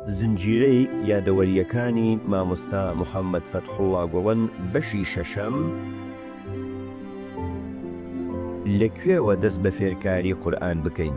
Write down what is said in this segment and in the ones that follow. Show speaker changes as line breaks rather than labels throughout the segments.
زنجیرەی یادەوەرییەکانی مامۆستا محەممەد فەتحوڵڵا گوڵەن بەشی شەشەم لە کوێوە دەست بە فێرکاری قورئان بکەین؟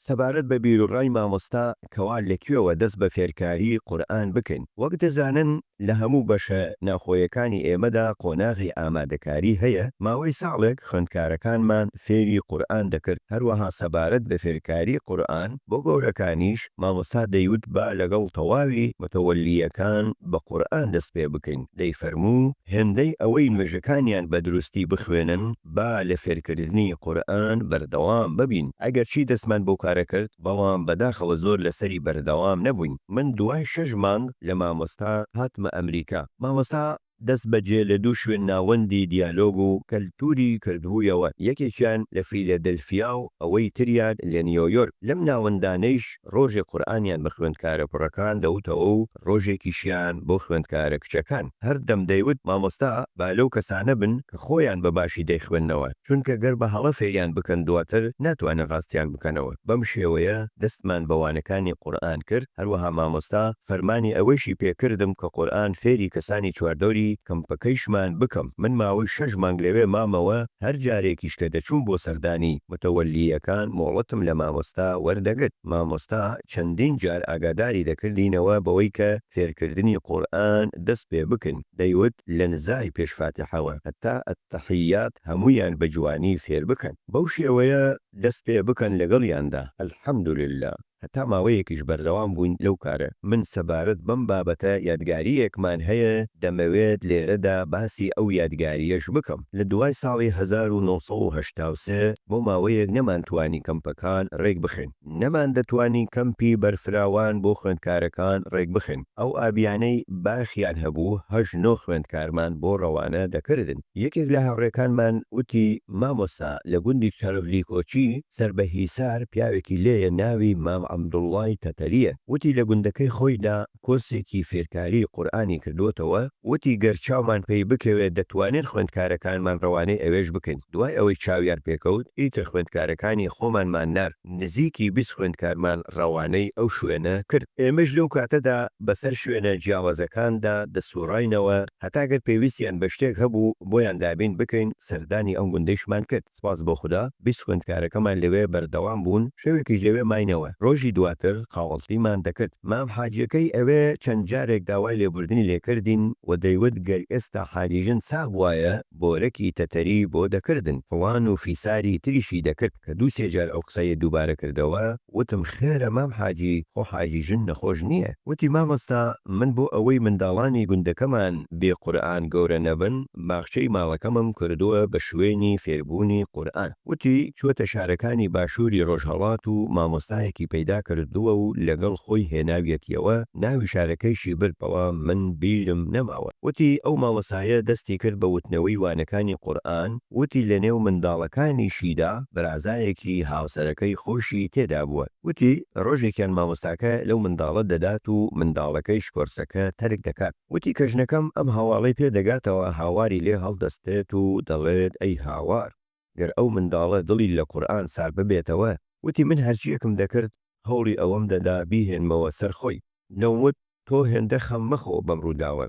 سەبارەت بە بیروڕای مامۆستا کەوا لە کوێوە دەست بە فێرکاری قورئان بکەین؟ وەک دەزانن لە هەموو بەشە ناوخۆیەکانی ئێمەدا قۆناغی ئامادەکاری هەیە، ماوەی ساڵێک خوێندکارەکانمان فێری قورئان دەکرد، هەروەها سەبارەت بە فێرکاری قورئان بۆ گەورەکانیش مامۆستا دەیوت با لەگەڵ تەواوی متەوەلییەکان بە قورئان دەست پێ بکەین، دەیفەرموو هێندەی ئەوەی نوێژەکانیان بە دروستی بخوێنن، با لە فێرکردنی قورئان بەردەوام ببین ئەگەرچی دەستمان بەو کارە کرد بەڵام بەداخەوە زۆر لەسەری بەردەوام نەبووین من دوای شەش مانگ لە مامۆستا هاتمە ئەمریکا مامۆستا دەست بەجێ لە دوو شوێن ناوەندی دیالۆگ و کەلتوری کردبوویەوە یەکێکیان لە فیلەدلفیا و ئەوەی تریان لە نیۆیۆرک لەم ناوەندانەیش ڕۆژێک قورئانیان بە خوێندکارە کوڕەکان دەوتەوە و ڕۆژێکیشیان بۆ خوێندکارە کچەکان هەردەم دەیوت مامۆستا با لەو کەسانە بن کە خۆیان بە باشی دەیخوێننەوە چونکە گەر بە هەڵە فێریان بکەن دواتر ناتوانن ڕاستیان بکەنەوە بەم شێوەیە دەستمان بە وانەکانی قورئان کرد هەروەها مامۆستا فەرمانی ئەوەیشی پێ کردم کە قورئان فێری کەسانی چواردەوری کەمپەکەیشمان بکەم من ماوەی شەش مانگ لەوێ مامەوە هەر جارێکیش کە دەچووم بۆ سەردانی متەوەلییەکان مۆڵەتم لە مامۆستا وەردەگرت. مامۆستا چەندین جار ئاگاداری دەکردینەوە بەوەی کە فێرکردنی قورئان دەست پێ بکن دەیوت لە نزای پێش فاتیحەوە هەتا التحیات هەموویان بە جوانی فێر بکەن بەو شێوەیە دەست پێ بکەن لەگەڵیاندا الحمدللە هەتا ماوەیەکیش بەردەوام بووین لەو کارە. من سەبارەت بەم بابەتە یادگارییەکمان هەیە دەمەوێت لێرەدا باسی ئەو یادگارییەش بکەم. لە دوای ساڵی هەزار و نۆ سەد و هەشتا و سێ بۆ ماوەیەک نەمانتوانی کەمپەکان رێک بخەین، نەماندەتوانی کەمپی بەرفراوان بۆ خوێندکارەکان رێک بخەین، ئەو ئابیانەی باخیان هەبوو هەشت نۆ خوێندکارمان بۆ رەوانە دەکردن، یەکێک لە هاوڕێکانمان وتی مامۆستا لە گوندی چەرڤلیکۆچی سەر بە هیسار پیاوێکی لێیە ناوی مام عەبدوڵڵای تەتەرییە، وتی لە گوندەکەی خۆیدا، کۆرسێکی فێرکاریی قورئانی کردووەتەوە، وتی، گەر چاومان پێی بکەوێت دەتوانین خوێندکارەکانمان ڕەوانەی ئەوێش بکەین، دوای ئەوەی چاویان پێکەوت ئیتر خوێندکارەکانی خۆمانمان نارد، نزیکی بیست خوێندکارمان ڕەوانەی ئەو شوێنە کرد، ئێمەش لەو کاتەدا بەسەر شوێنە جیاوازەکاندا دەسوڕاینەوە هەتا گەر پێویستیان بە شتێک هەبوو بۆیان دابین بکەین، سەردانی ئەم گوندەیشمان کرد. سوپاس بۆ خودا بیست خوێندکارەکەمان لەوێ بەردەوام بوون، شەوێکیش لەوێ ماینەوە، ڕۆژی دواتر قاوەڵتیمان دەکرد، مام حاجیەکەی ئەوێ چەند جارێک داوای لێبوردنی لێکردین و دەیوت گەر ئێستا حاجیژن ساغ بوایە بۆرەکی تەتەری بۆ دەکردن، فڵان و فیساری تریشی دەکرد، کە دوو سێ جار ئەو قسەی دووبارە کردەوە وتم خێرە مام حاجی خۆ حاجیژن نەخۆش نیە، وتی مامۆستا من بۆ ئەوەی منداڵانی گوندەکەمان بێ قورئان گەورە نەبن، باخچەی ماڵەکەمم کردووە بە شوێنی فێربوونی قورئان. وتی، چووەتە شارەکانی باشووری ڕۆژهەڵات و مامۆستایەکی پەیدا کردووە و لەگەڵ خۆی هێناویەتیەوە، ناوی شارەکەیشی برد بەڵام من بیرم نەماوە. وتی، ئەو مامۆستایە دەستی کرد بە وتنەوەی وانەکانی قورئان، وتی لەنێو منداڵەکانیشیدا برازایەکی هاوسەرەکەی خۆشی تێدا بووە. وتی، ڕۆژێکیان مامۆستاکە لەو منداڵە دەدات و منداڵەکەیش کۆرسەکە تەرک دەکات. وتی کە ژنەکەم ئەم هەواڵەی پێ دەگاتەوە هاواری لێ هەڵدەستێت و دەڵێت ئەی هاوار گەر ئەو منداڵە دڵی لە قورئان سار ببێتەوە، وتی من هەرچییەکم دەکرد هەوڵی ئەوەم دەدا بیهێنمەوە سەر خۆی، دەموت تۆ هێندە خەم مەخۆ بەم ڕووداوە،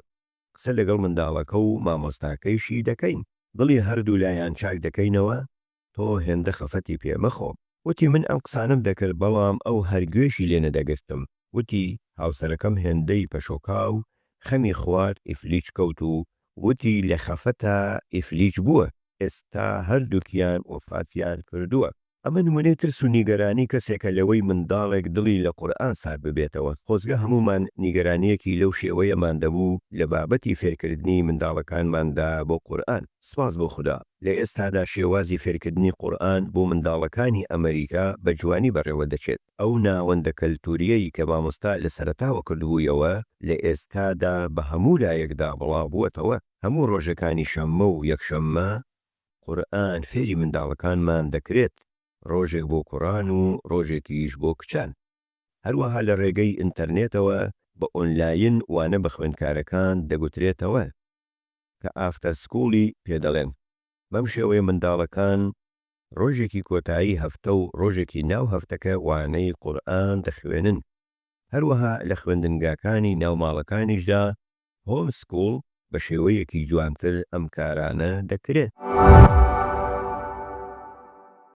قسە لەگەڵ منداڵەکە و مامۆستاکەیشی دەکەین، دڵی هەردوولایان چاک دەکەینەوە، تۆ هێندە خەفەتی پێ مەخۆ. وتی من ئەم قسانەم دەکرد بەڵام ئەو هەر گوێشی لێ نەدەگرتم. وتی هاوسەرەکەم هێندەی پەشۆکا و خەمی خوارد ئیفلیج کەوت و وتی لە خەفەتا ئیفلیج بووە، ئێستا هەردووکیان وەفاتیان کردووە. ئەمە نمونەی ترس و نیگەرانی کەسێکە لەوەی منداڵێک دڵی لە قورئان سارد ببێتەوە. خۆزگە هەموومان نیگەرانییەکی لەو شێوەیەمان دەبوو لە بابەتی فێرکردنی منداڵەکانماندا بۆ قورئان. سپاس بۆ خودا. لە ئێستادا شێوازی فێرکردنی قورئان بۆ منداڵەکانی ئەمەریکا بە جوانی بەڕێوە دەچێت. ئەو ناوەندە کەلتوورییەی کە مامۆستا لە سەرەتاوە کردبوویەوە، لە ئێستادا بە هەموو لایەکدا بڵاوبووەتەوە. هەموو ڕۆژەکانی شەممە و یەکشەممە قورئان فێری منداڵەکانمان دەکرێت، ڕۆژێک بۆ کوڕان و ڕۆژێکیش بۆ کچان. هەروەها لە ڕێگەی ئینتەرنێتەوە بە ئۆنلاین وانە بە خوێندکارەکان دەگوترێتەوە. کە ئافتەر سکوڵی پێ دەڵێن. بەم شێوەیە منداڵەکان ڕۆژێکی کۆتایی هەفتە و ڕۆژێکی ناو هەفتەکە وانەی قورئان دەخوێنن. هەروەها لە خوێندنگاکانی ناو ماڵەکانیشدا، هۆم سکوڵ، بە شێوەیەکی جوانتر ئەم کارانە دەکرێت.